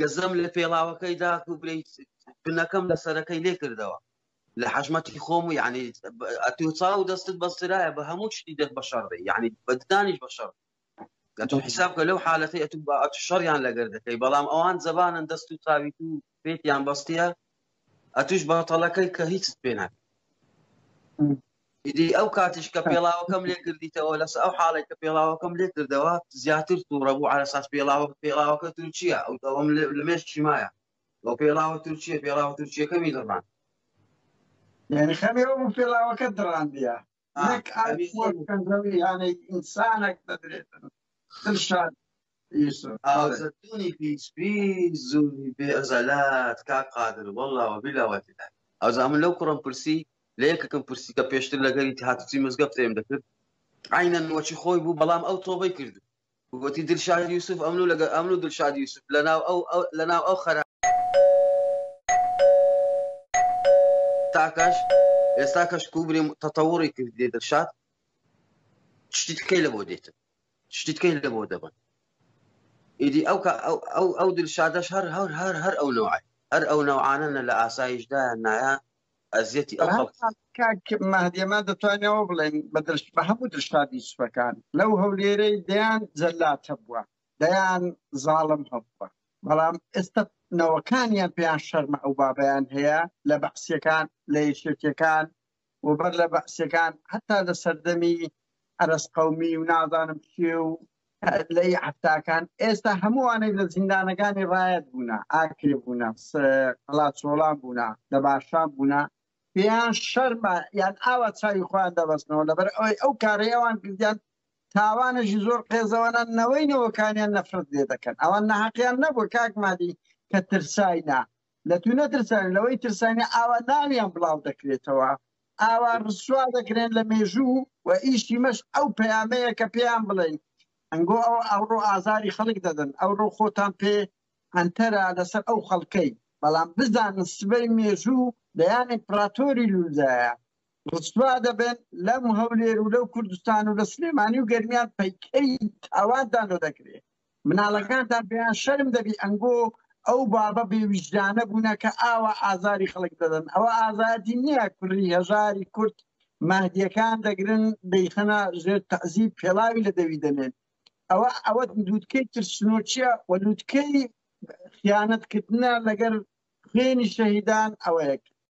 گەزەم لە پێڵاوەکەی داک و بلی بنەکەم لە سەرەکەی لێ کردەوە لە حەشمەتی خۆم و یعنی ئەتو چاو دەستت بەسترایە بە هەموو شتی دەک بە شەڕێ یعنی بەدانیش بە شەڕ ئەتو حیساب کە لەو حالەتی ئەتو بە ئەتو شەڕیان لەگەر دەکەی بەڵام ئەوان زەبانن دەست و چاوی و پێتیان بەستە ئەتوش بەتەڵەکەی کە هیچت پێ ناکە ئیدی ئەو کاتیش کە پێڵاوەکەم لێ کردیتەوە لەس ئەو حاڵێک کە پێڵاوەکەم لێ کردەوە زیاتر تووڕە بوو على ساس پێڵاوە پێڵاوەکە تورکیا ئەو دەوەم لەمێش چیمایە بۆ پێڵاوە تورکیە پێڵاوە تورکیەکەمی دڕان یعنی خەمێەوە بوو پێڵاوەکە دڕاندە نەک ئاوی خۆر بکەن زەوی یانەی ئینسانەک دەدرێتن دڵشاد یوسف ئازەتونی پیس پیس زووی بێ ئەزەلات کاک قادر وەڵڵا وەبیلا وەتیلا ئەوزا من لەو کوڕم پرسی لە یەکەکەم پرسی کە پێشتر لەگەری هاتوچی مزگەفتێم دەکرد عینەن وەچی خۆی بوو بەڵام ئەو تۆبەی کرد وتی دلشاد یوسف ئەمن و لەگە ئەمن و دلشاد یوسف لەناو ئەو لەناو ئەو خەرا تاکەش ئێستا کەش کوبریم تەتەوڕی کردێ دلشاد شتی تکەی لە بۆ دێتن شتی تکەی لە بۆ دەبن ئیدی ئەو ئەو ئەو دلشادەش هەر هەر هەر هەر ئەو نوعی هەر ئەو نەوعانەنە لە ئاسایشدا نایە ئەزیەتی ئەو خەڵک کاک مەهدیەمە دەتوانەوە بڵێن بە درشت بە هەموو درشتادی سوەکان لەو هەولێرەی دەیان جەلات هەبووە دەیان زاڵم هەبووە بەڵام ئێستا نەوەکانیان پێیان شەرمە ئەو بابیان هەیە لە بەعسیەکان لە یەکێتیەکان و بەر لە بەعسیەکان هەتا لە سەردەمی ئەرس قومی و نازانم چێ و لەی حەفتاکان ئێستا هەمووانەی لە زیندانەکانی ڕایەت بوونە ئاکرێ بوونە قەڵاچۆڵان بوونە لە باشان بوونە پێیان شەرمە یان ئاوا چاوی خۆیان دەبەستنەوە لەبەر ئەوەی ئەو کارەی ئەوان کردیان تاوانێکی زۆر قێزەوەە نەوەی نەوەکانیان نەفرەت لێ دەکەن ئەوان نەحقیان نەبوو کاکمادی کە ترساینا لە توو نەترسان لەوەی ترسانی ئاوا ناویان بڵاو دەکرێتەوە ئاوا ڕسوا دەکرێن لە مێژوو و ئیشی مەش ئەو پەیامەیە کە پێیان بڵێن ئەنگۆ ئەو ئەوڕۆ ئازاری خەڵک دەدەن ئەوڕۆ خۆتان پێ ئەنتەرە لەسەر ئەو خەڵکەی بەڵام بزانن سبەی مێژوو دەیان ئیمپراتۆری لوزایە ڕسوا دەبن لەم هەولێر و لەو کوردستان و لە سلێمانی و گەرمیان پەیکەی تاوان دانۆ دەکرێت مناڵەکانتان پێیان شەرم دەبی ئەنگۆ ئەو بابە بێ ویژدانە بوونە کە ئاوا ئازاری خەڵک دەدەن ئەوە ئازادی نییە کوری هەژاری کورد مەهدیەکان دەگرن دەیخەنە ژێر تەزیب پێڵاوی لە دەوی دەنێن ئەوە ئەوە لووتکەی ترسنۆچیە و لووتکەی خیانەتکردە لەگەر خوێنی شەهیدان ئەوەیەک